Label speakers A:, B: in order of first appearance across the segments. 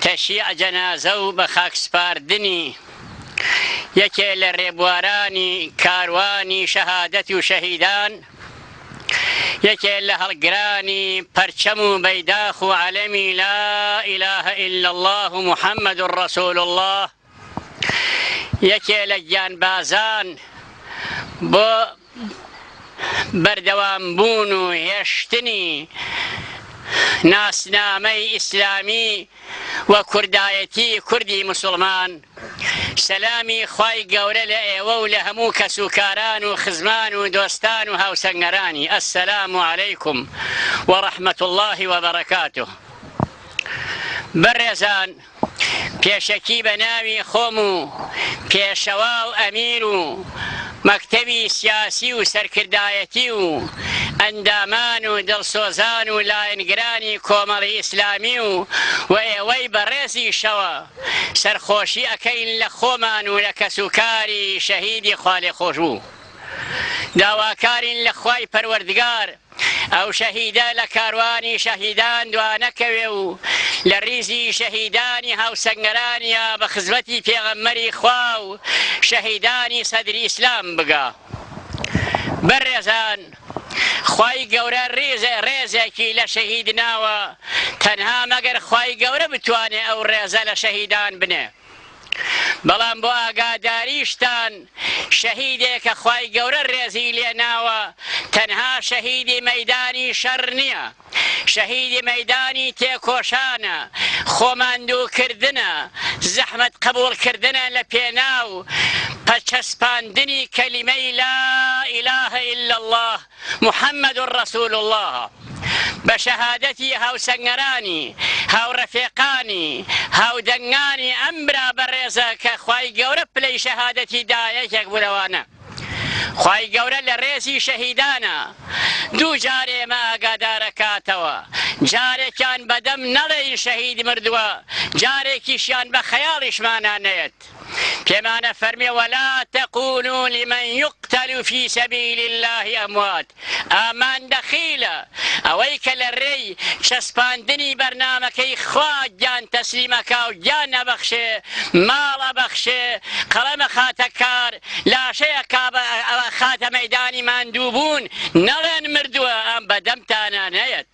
A: تەشیع جەنازە و بە خاک سپاردنی یەکێ لە رێبوارانی کاروانی شەهادەت و شەهیدان یەکێ لە هەڵگرانی پەرچەم و بەیداخ و عەلەمی لا ئیلاهە ئیلا اللە و محەممەد ڕەسوول اللە یەکێ لە گیانبازان بۆ بەردەوام بوون و هێشتنی ناسنامەی ئیسلامی و کوردایەتی کوردی مسوڵمان سەلامی خوای گەورە لە ئێوە و لە هەموو کەس و کاران و خزمان و دۆستان و هاوسەنگەرانی ئەسەلام و عەلەیکم و ڕەحمەت اللهی وبەڕکاته بەڕێزان پێشەکی بە ناوی خۆم و پێشەوا و ئەمیر و مەکتەبی سیاسی و سەرکردایەتی و ئەندامان و دڵسۆزان و لایەنگرانی کۆمەڵی ئیسلامی و و ئێوەی بەڕێزیشەوە سەرخۆشی ئەکەین لە خۆمان و لە کەسوکاری شەهیدی خوالێخۆشبوو. داواکارین لە خوای پەروەردگار ئەو شەهیدە لە کاروانی شەهیدان دوانەکەوێ و لە ڕیزی شەهیدانی هاوسەنگەرانیا بە خزمەتی پێغەمبەری خوا و شەهیدانی سەدری ئیسلام بگا. بەڕێزان خوای گەورە ڕیزێ ڕێزێکی لە شەهید ناوە تەنها مەگەر خوای گەورە بتوانێ ئەو ڕێزە لە شەهیدان بنێ. بەڵام بۆ ئاگاداریشتان شەهیدێکە خوای گەورە رێزی لێناوە تەنها شەهیدی مەیدانی شەڕ نیە شەهیدی مەیدانی تێکۆشانە خۆماندووکردنە زەحمەت قبوڵ کردنە لە پێناو پە چەسپاندنی کەلیمەی لا الە الا اللە محمد رسول اللە، بە شەهادەتی هاوسەنگەرانی، هاوڕەفێقانی، هاودەنگانی ئەم برا بەڕێزە کە خوای گەورە پلەی شەهادەتی دا یەکێک بوو لەوانە. خوای گەورە لە ڕێزی شەهیدانە دوو جار ئێمە ئاگادار ئەکاتەوە، جارێکیان بە دەم نەڵێین شەهید مردووە، جارێکیشیان بە خەیاڵیشمانا نەیەت. پێمانە فەرمێ ولا تقولو لمن یقتل فی سبیل اللە اموات ئامان دەخیلە ئەوەی کە لە رێی چەسپاندنی بەرنامەکەی خوا گیان تەسلیم ئەکا و گیان ئەبەخشێ ماڵ ئەبەخشێ قەڵەم ئەخاتە کار لاشەی ئەکا ئەخاتە مەیدانی ماندووبوون نەڵێن مردووە ئەم بەدەمتانا نەیەت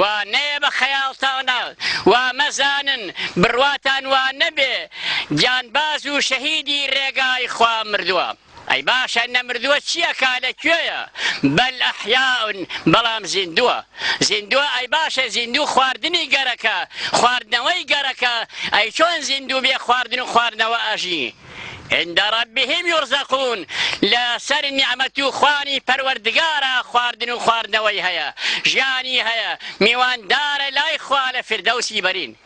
A: وا نەیە بە خەیاڵتانە وا مەزانن بڕواتان وا نەبێ گیانباز و شەهیدی رێگای خوا مردوە ئەی باشە نەمردوە چی ئەکا لە کوێیە بەل ئەحیا بەڵام زیندوە زیندوە ئەی باشە زیندوو خواردنی گەرەکە خواردنەوەی گەرەکە ئەی چۆن زیندوو بێ خواردن و خواردنەوە ئەژی عند ربهم یرزقون لە سەر نیعمەت و خوانی پەروەردگارا خواردن و خواردنەوەی هەیە ژیانی هەیە میواندارە لای خوا لە فردەوسی بەرین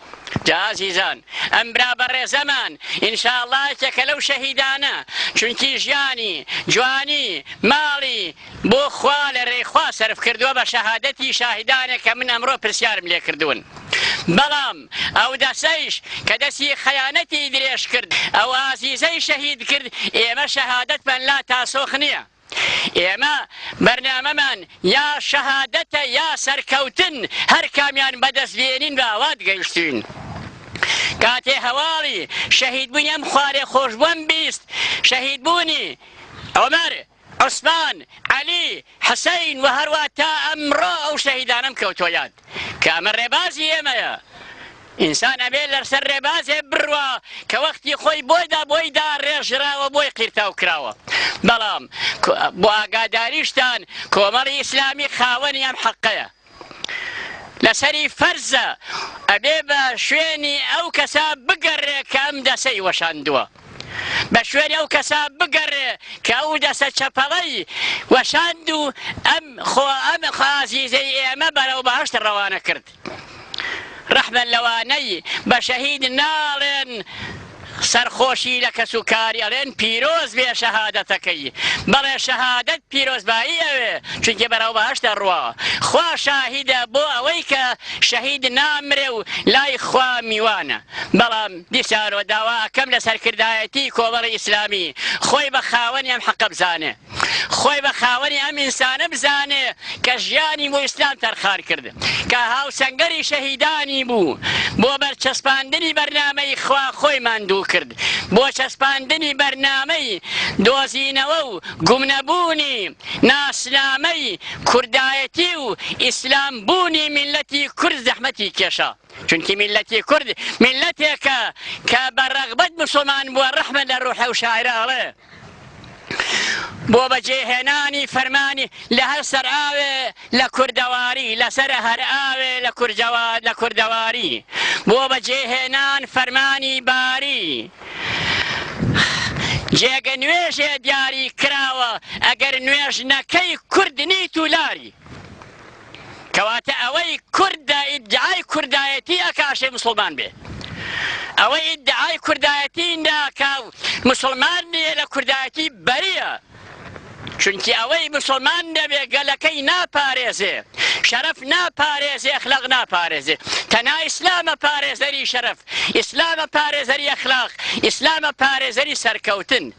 A: جا ئازیزان ئەم برا بەڕێزەمان ئینشاءاللە یەکێکە لەو شەهیدانە چونکی ژیانی جوانی ماڵی بۆ خوا لە رێی خوا سەرف کردووە بە شەهادەتی شاهیدانێک کە من ئەمڕۆ پرسیارم لێ کردوون بەڵام ئەو دەستەیش کە دەستی خەیانەتی درێژ کرد ئەو ئازیزەی شەهید کرد ئێمە شەهادەتمان لا تاسۆخ نیە ئێمە بەرنامەمان یا شەهادەتە یا سەرکەوتن هەر کامیان بەدەست بێنین بە ئاوات گەیشتوین کاتێ هەواڵی شەهید بوونی ئەم خوارێ خۆشبووم بیست شەهید بوونی عمر عوسمان، عەلی، حسین و هەروا تا ئەمڕۆ ئەو شەهیدانەم کەوتوە یاد کە ئەمە ڕێبازی ئێمەیە ئینسان ئەبێ لەرسەر ڕێبازێ بڕوا کە وەختی خۆی بۆیدا بۆی دا ڕێژراوە بۆی قیرتاو کراوە بەڵام بۆ ئاگاداریشتان کۆمەڵی ئیسلامی خاوەنی ئەم حەقەیە. لەسەری فەرزە ئەبێ بە شوێنی ئەو کەسە بگەڕێ کە ئەم دەسەی وەشاندووە. بە شوێنی ئەو کەسە بگەڕێ کە ئەو دەسە چەپەڵەی وەشاند و ئەم خۆ ئەم خازیزەی ئێمە بەرەو بەهەشت ڕەوانە کرد. ڕەحمە لەوانەی بە شەهید ناڵێن، سەرخۆشی لە کەس و کاری ئەڵێن پیرۆز بێ شەهادەتەکەی بەڵێ شەهادەت پیرۆزبایی ئەوێ چونکی بەرەو بەهەشت ئەڕوا خوا شاهیدە بۆ ئەوەی کە شەهید نامرێ و لای خوا میوانە بەڵام دیسانەوە داوا ئەکەم لە سەرکردایەتی کۆمەڵی ئیسلامی خۆی بە خاوەنی ئەم حەقە بزانێ. خۆی بە خاوەنی ئەم ئینسانە بزانێ کە ژیانی بۆ ئیسلام تەرخان کرد کە هاوسەنگەری شەهیدانی بوو بۆ بەرچەسپاندنی بەرنامەی خوا خۆی ماندوو کرد بۆ چەسپاندنی بەرنامەی دۆزینەوە و گومنەبوونی ناسنامەی کوردایەتی و ئیسلام بوونی میلەتی کورد زەحمەتی کێشا چونکی میلەتی کورد میلەتێکە کە بە ڕەغبەت مسلمان بووە ڕەحمە لە ڕوحە و شاعرە ئەڵێ بۆ بەجێهێنانی فەرمانی لە هەر سەرئاوێ لە کوردەواری لەسەر هەر ئاوێ لە کورجەوا لە کوردەواری بۆ بەجێهێنان فەرمانی باری جێگە نوێژێ دیاری کراوە ئەگەر نوێژ نەکەی کورد نیت و لاری کەواتە ئەوەی کورد دە ئیدعای کوردایەتی ئەکا ئەشێ مسوڵمان بێ ئەوەی ئیدعای کوردایەتی ناکا و مسوڵمان نییە لە کوردایەتی بەریە چونکی ئەوەی مسلمان نەبێ گەلەکەی ناپارێزێ شەرف ناپارێزێ اخلاق ناپارێزێ تەنا ئیسلامە پارێزەری شەرف ئیسلامە پارێزەری اخلاق ئیسلامە پارێزەری سەرکەوتن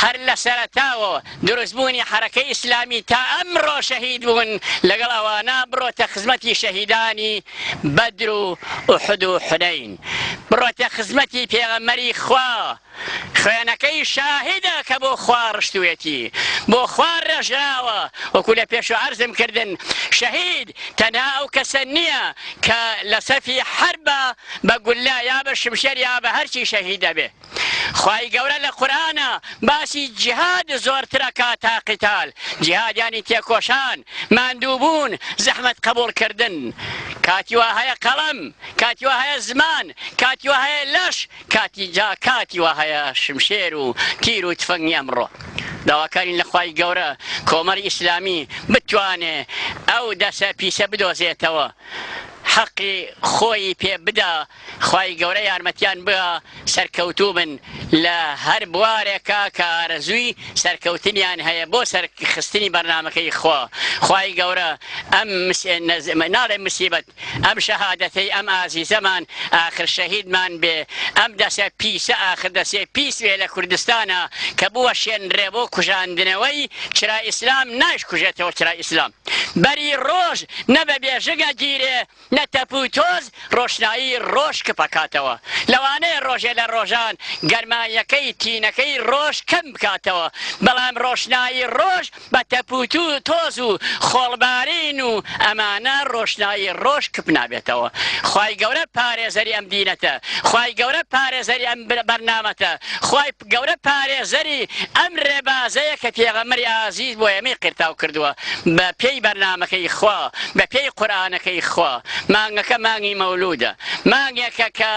A: هەر لە سەرەتاوەوە دروستبوونی حەرەکەی ئیسلامی تا ئەمڕۆ شەهید بوون لەگەڵ ئەوانە بڕۆتە خزمەتی شەهیدانی بەدر و ئوحد و حونەین بڕۆتە خزمەتی پێغەمبەری خوا خوێنەکەی شاهیدە کە بۆ خوا ڕشتوێتی بۆ خوا ڕێژراوە وەکو لە پێش و عەرزم کردن شەهید تەنها ئەو کەسە نییە کە لە سەفی حربە بە گوللا یا بە شمشێر یا بە هەرچی شەهید دەبێت خوای گەورە لە قورئانا باسی جیهاد زۆرتر ئەکات تا قیتال، جیهاد یانی تێکۆشان، ماندوو بوون، زەحمەت قەبووڵ کردن. کاتی وا هەیە قەڵەم، کاتی وا هەیە زمان، کاتی وا هەیە لەش، کاتی جا کاتی وا هەیە شمشێر و تیر و تفەنگی ئەمڕۆ داواکارین لە خوای گەورە کۆمەری ئیسلامی بتوانێ ئەو دەسە پیسە بدۆزێتەوە حەقی خۆیی پێ بدا. خوای گەورە یارمەتیان بگا سەرکەوتوو بن لە هەر بوارێکا کە ئارەزووی سەرکەوتنیان هەیە بۆ سەر خستنی بەرنامەکەی خوا خوای گەورە ئەم ناڵێ مسیبەت ئەم شەهادەتەی ئەم ئازیزەمان ئاخر شەهیدمان بێ ئەم دەسە پیسە ئاخر دەسێ پیس بێ لە کوردستانا کە بووە شێنرێ بۆ کوژاندنەوەی چرا ئیسلام نایش کوژێتەوە چرا ئیسلام بەری ڕۆژ نە بە بێژنگ ئەگیرێ لە تەپ و تۆز ڕۆشنایی ڕۆژ کپەکاتەوە، لەوانەیە ڕۆژێ لە ڕۆژان گەرماییەکەی تینەکەی ڕۆژ کەم بکاتەوە، بەڵام ڕۆشنایی ڕۆژ بە تەپ و تۆز و خۆڵبارین و ئەمانە ڕۆشنایی ڕۆژ کپ نابێتەوە. خوای گەورە پارێزەری ئەم دینەتە. خوای گەورە پارێزەری ئەم بەرنامەتە. خوای. گەورە پارێزەری ئەم رێبازەیە کە پێغەمبەری ئازیز بۆ ئێمەی قیرتاو کردووە بە پێی بەرنامەکەی خوا، بە پێی قورئانەکەی خوا. مانگەکە مانگی مەولوودە. مانگێکە کە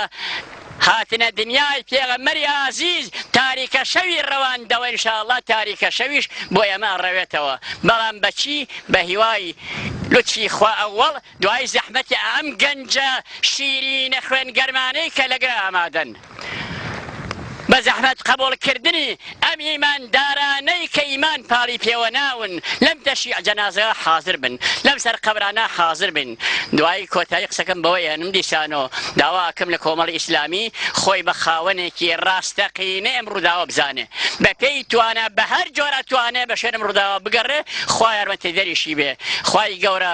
A: هاتنە دنیای پێغەمبەری ئازیز تاریکە شەوی رەواندەوە ان شاء اللە تاریکە شەویش بۆ ئێمە ئەڕەوێتەوە بەڵام بە چی؟ بە هیوای لوتفی خوا ئەوەڵ دوای زەحمەتی ئەم گەنجە شیرینە خوێن گەرمانەی کە لەگەر ئامادەن بە زەحمەت قبول کردنی ئەم ئیمان دارانەی کە ئیمان پاڵی پێوە ناون لەم تەشیع جەنازە حاضر بن لەم سەر قەبرانە حاضر بن دوایی کۆتایی قسەکەم بەوە یانم دیسانۆ داواکەم لە کۆمەڵ ئیسلامی خۆی بە خاوەنێکی ڕاستەقینە ئەم ڕووداوە بزانێ بە پێی توانە بە هەر جۆرە توانێ بە شوێنم ڕووداوە بگەڕێ خوا یارمەتی دەریشی بێ خوای گەورە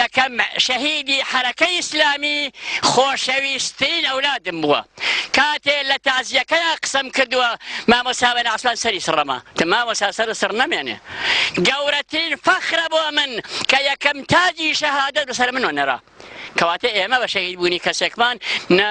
A: یەکەم شەهیدی حەرەکەی ئیسلامی خۆشەویستترین ئەولادم بووە کاتێ لە تازیەکەیا قسەم کردووە مامۆسا بە ناسان سەری سڕەما تە مامۆسا سەر سڕ نەمێنێ گەورەترین فەخرە بۆ من کە یەکەم تاجی شەهادە بەسەر منۆ نەرا کەواتە ئێمە بە شەهید بوونی کەسێکمان نە